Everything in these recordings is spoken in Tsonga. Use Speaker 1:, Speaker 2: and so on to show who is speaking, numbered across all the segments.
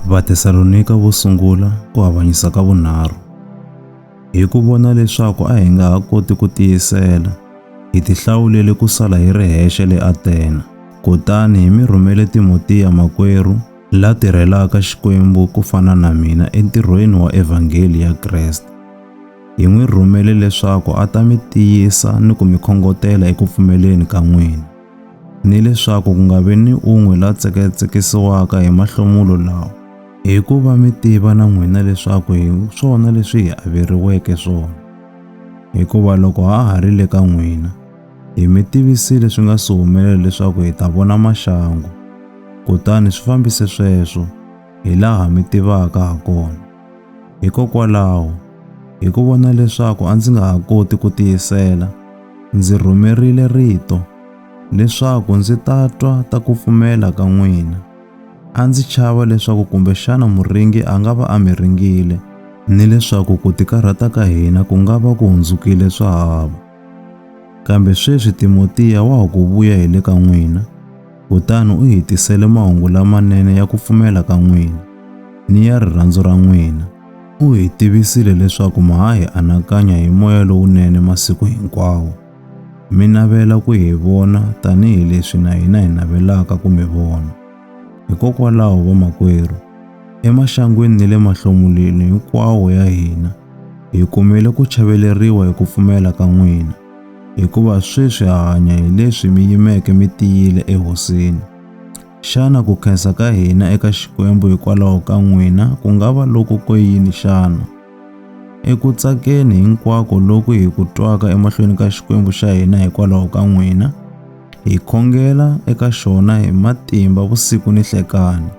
Speaker 1: Vatesalonika vo sungula ku avanyisa ka vunharhu. Hi ku vona leswaku a hi nga ha koti ku tiyisela, hi tihlawulele ku sala hi ri hexe le Atena. Kutani hi mi rhumele Timotiya makwerhu, la tirhelaka Xikwembu ku fana na mina entirhweni wa evhangeli ya Kreste. Hi n'wi rhumele leswaku a ta mi tiyisa ni ku mi khongotela eku pfumeleni ka n'wina. ni leswaku ku nga vi ni un'we la tseketsekisiwaka hi mahlomulo lawa, hi ku va mi tiva na n'wina leswaku hi swona leswi hi averiweke swona. Hikuva loko ha ha ri le ka n'wina, hi mi tivisile swi nga si humelela leswaku hi ta vona maxangu, kutani swi fambise sweswo, hi laha mi tivaka ha kona. Hikokwalaho, hi ku vona leswaku a ndzi nga ha koti ku tiyisela, ndzi rhumerile rito leswaku ndzi ta twa ta ku pfumela ka n'wina. A ndzi chava leswaku kumbexana muringi a nga va a mi ringile ni leswaku ku tikarhata ka hina ku nga va ku hundzukile swahava. Kambe sweswi Timotiya wa ha ku vuya hi le ka n'wina, kutani u hi tisele mahungu lamanene ya ku pfumela ka n'wina ni ya rirhandzu ra n'wina. U hi tivisile leswaku ma ha hi anakanya hi moya lowunene masiku hinkwawo. Mi navela ku hi vona tanihi leswi na hina hi navelaka ku mi vona. Hikokwalaho vamakwerhu, emaxangwini ni le mahlomulweni hinkwawo ya hina, hi kumile ku chaveleriwa hi ku pfumela ka n'wina. hikuva sweswi ha hanya hi leswi mi yimeke mi tiyile ehosini. Xana ku khensa ka hina eka Xikwembu hikwalaho ka n'wina ku nga va loko ko yini xana? Eku tsakeni hinkwako loku hi ku twaka emahlweni ka Xikwembu xa hina hikwalaho ka n'wina, hi khongela eka xona hi matimba vusiku ni hlekani,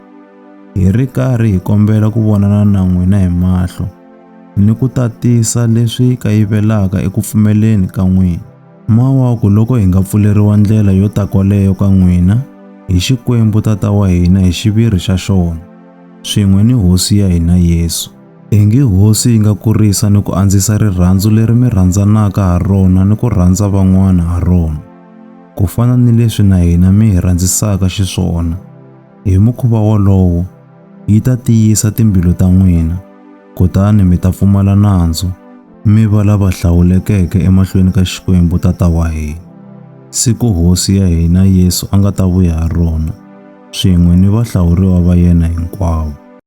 Speaker 1: hi ri karhi hi kombela ku vonana na n'wina hi mahlo. ni ku tatisa leswi kayivelaka eku pfumeleni ka n'wina. Mawaku loko hi nga pfuleriwa ndlela yo ta kwaleyo ka n'wina hi Xikwembu Tata wa hina hi xiviri xa xona, swin'we ni Hosi ya hina Yesu. Ingi Hosi yi nga kurisa ni ku andzisa rirhandzu leri mi rhandzanaka ha rona ni ku rhandza van'wana ha rona, ku fana ni leswi na hina mi hi rhandzisaka xiswona. Hi mukhuva wolowo, yi ta tiyisa timbilu ta n'wina, kutani mi ta pfumala nandzu, mi va lava hlawulekeke emahlweni ka Xikwembu Tata wa hina, siku Hosi ya hina Yesu a nga ta vuya ha rona, swin'we ni vahlawuriwa va yena hinkwavo.